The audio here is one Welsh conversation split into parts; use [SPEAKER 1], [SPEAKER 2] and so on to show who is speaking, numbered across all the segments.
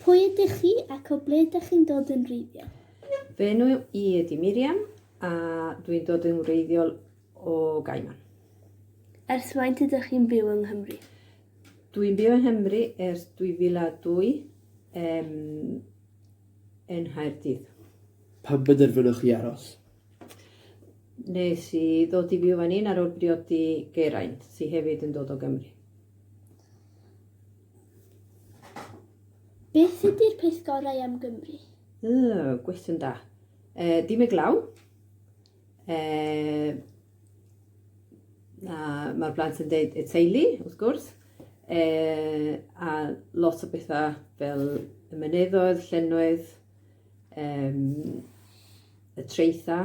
[SPEAKER 1] Pwy ydych chi ac o ble ydych chi'n dod yn wreiddiol? Fy enw i ydi Miriam a dwi'n dod yn wreiddiol o Gaiman. Ers faint ydych chi'n byw yng Nghymru? Dwi'n byw yng Nghymru ers 2002 um, yn Nghaerdydd. Pam benderfynoch chi aros? Nes i ddod i fyw fan hyn ar ôl briodi Geraint, sydd hefyd yn dod o Gymru. Beth ydy'r peth gorau am Gymru? Oh, gwestiwn da. E, dim y glaw. E, na, mae'r blant yn dweud y teulu, wrth gwrs. E, a lot o bethau fel y myneddoedd, llennoedd, e, y treitha.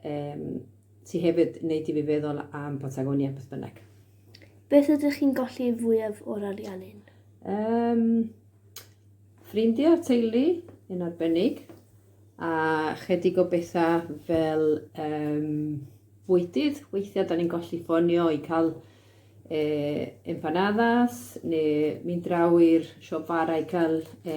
[SPEAKER 1] Yym, ti hefyd, neu ti fi feddwl am Patagonia, beth bynnag. Beth ydych chi'n golli fwyaf o'r ariannin? Um, ffrindiau, teulu, yn arbennig, a chydig o bethau fel um, bwydydd. Weithiau, da ni'n golli ffonio i cael e, empanadas, neu mynd draw i'r siop bara i cael e,